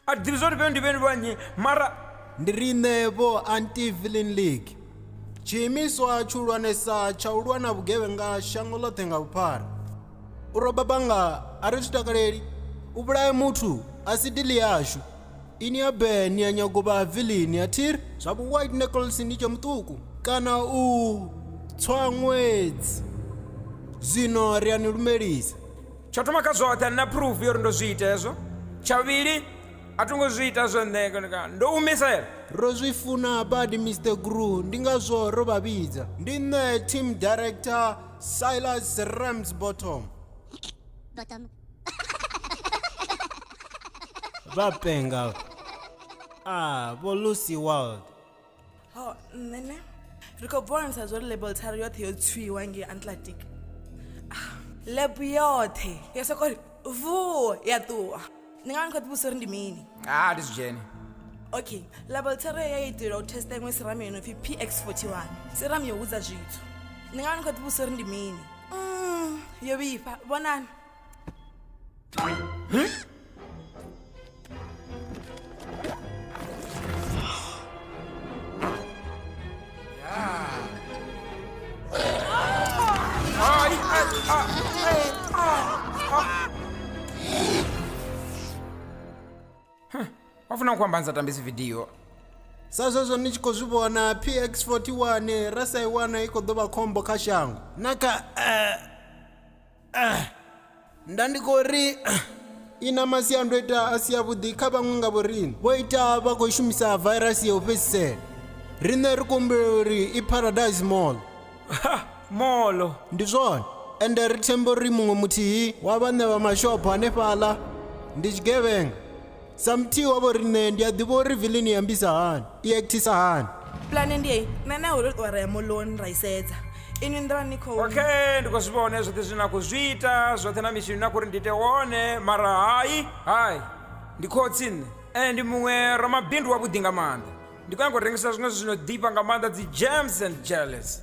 a thi ḓivhi zwa uri vhe ndi vheni vha nnyi mara ndi riṋe vho anti-villain league tshiimiswa tshihulwanesa tsha u lwa na vhugevhenga shango ḽoṱhe nga vhuphara u roba banga a ri zwi takaleli u vhulaye muthu a si dili yashu ini ya be ni ya nyago vha vilini ya thiri zwa vhu white nichols ni tshe muṱuku kana u tswa ṅwedzi zwino ri a ni lumelisa tsho thoma kha zwoṱhe nna proof yo ri ndo zwi ita hezwo tsha vhuvhili a tho ngo zwi ita zwo nṋe kana- kana ndo humisela ro zwi funa badi mr gru ndi ngazwo ro vha vhidza ndi nṋe team director silas rams bottom Bottom. vha penga a vho lucy world ho nṋe ne ri khou bvonisa zwo ri label tharu yoṱhe yo tswiwa ngei atlantic ah, lab yoṱhe yo soko ri vuo ya ṱuwa ndi nga ni khou ḓivhusa uri ndi mini a ndi zwi dzhene okay label tharu ya itela u testa iṅwe siramu yo no pfi px 41 siramu yo hudza zwithu ndi nga ni khou ḓivhusa uri ndi mini mm, yo vhifha vhonani wafuna kuamba nzatambisi vidiyo sa zwezwo ni tshi khou zwi vhona px 41 ra sa i wana i khou ḓo vha khombo kha shango na kha uh, Ah, nda ndi khou ri ah, i na masiandoitwa a si avhuḓi kha vhaṅwe nga vhoriṋe vho ita vha khou shumisa vairasi ya u fhedzisela riṋe ri kumbula uri i paradise mall ha molo ndi zwone ende ri themba uri muṅwe muthihi wa vhaṋe vha mashopho hanefhaḽa ndi tshigevhenga sa muthihi wa vho riṋe ndi a ḓivha uri vilini i ambisa hani i akthisa hani pulane ndi eyi nṋe na iwe ro ṱuwa ra ya moloni ra i sedza inwi nḓila ni khou okay ndi khou zwi vhone zwoṱhe zwine na khou zwi ita zwoṱhe na mitshini na khou ri ndi ite wone mara hai hai ndi khotsi nṋe ende ndi muṅwe ramabindu wavhuḓi nga maanḓa ndi khou nyanga u rengisa zwiṅwe zwithu zwino ḓifha nga maanḓa dzi gems and jealous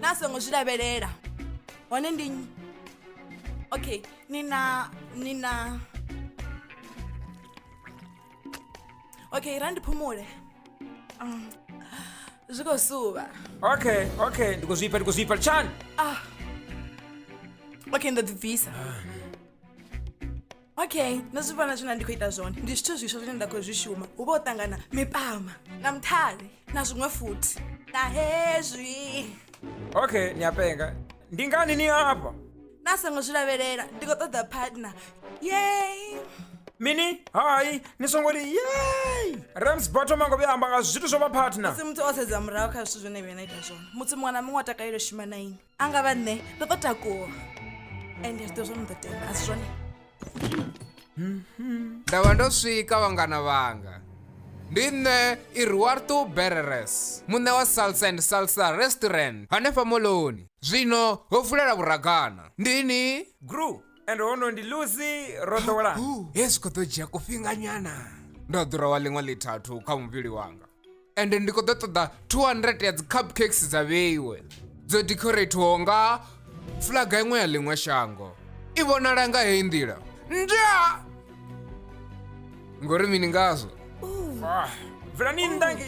na songo zwi lavhelela hone ndi okay ni na ni na okay ra ndi phumule um, zwi khou suvha okay okay ndi khou zwipfa ndi khou zwipfa tshani ah okay ndo ḓi bvisa okay nṋe zwi vhona zwine ndi khou ita zwone ndi zwithu zwiswa zwine nda khou zwi shuma hu vha u ṱangana mipama na mthale na zwiṅwe futhi na hezwi okay ni a penga ndi ngani ni afha na songo zwi lavhelela ndi khou ṱoḓa partner yey mini hai ni songo ri yey rams botto mango vhuya amba nga zwithu zwo vha partner musi muthu o sedza murahu kha zwithu zwine vhuya na ita zwone muthu muṅwe na muṅwe o takalela shuma na ini a nga vha nṋe ndo ḓo takuwa ende zwi ḓo zwo no ḓo tenda a si zwone nda vha ndo swika vhangana vhanga ndi nṋe iruarto bereres muṋe wa salsa and salsa restaurant hanefha moloni zwino ho vulela vhuragana ndini gru and hono ndi lucy ro ḓowelana hezwi khou ḓo dzhia kufhinganyana ndo ḓura wa ḽiṅwe ḽithathu kha muvhili wanga ende ndi khou ḓo ṱoḓa 200 ya dzi cupcakes dza vheiwe dzo decorathiwaho nga fulaga iṅwe ya ḽiṅwe shango i vhonala nga heyi nḓila nda ngori mini ngazwo ah, bvelani nndangi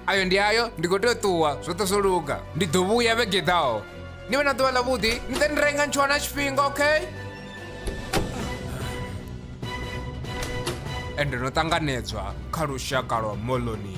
ayo ndi ayo ndi khou tea u ṱuwa zwoṱhe zwo luga ndi ḓo vhuya vhegeḓaho ni vhe na ḓuvha ḽavhuḓi ni ḓe ni renga ntshwana tshifhinga okay ende no ṱanganedzwa kha lushaka lwa moloni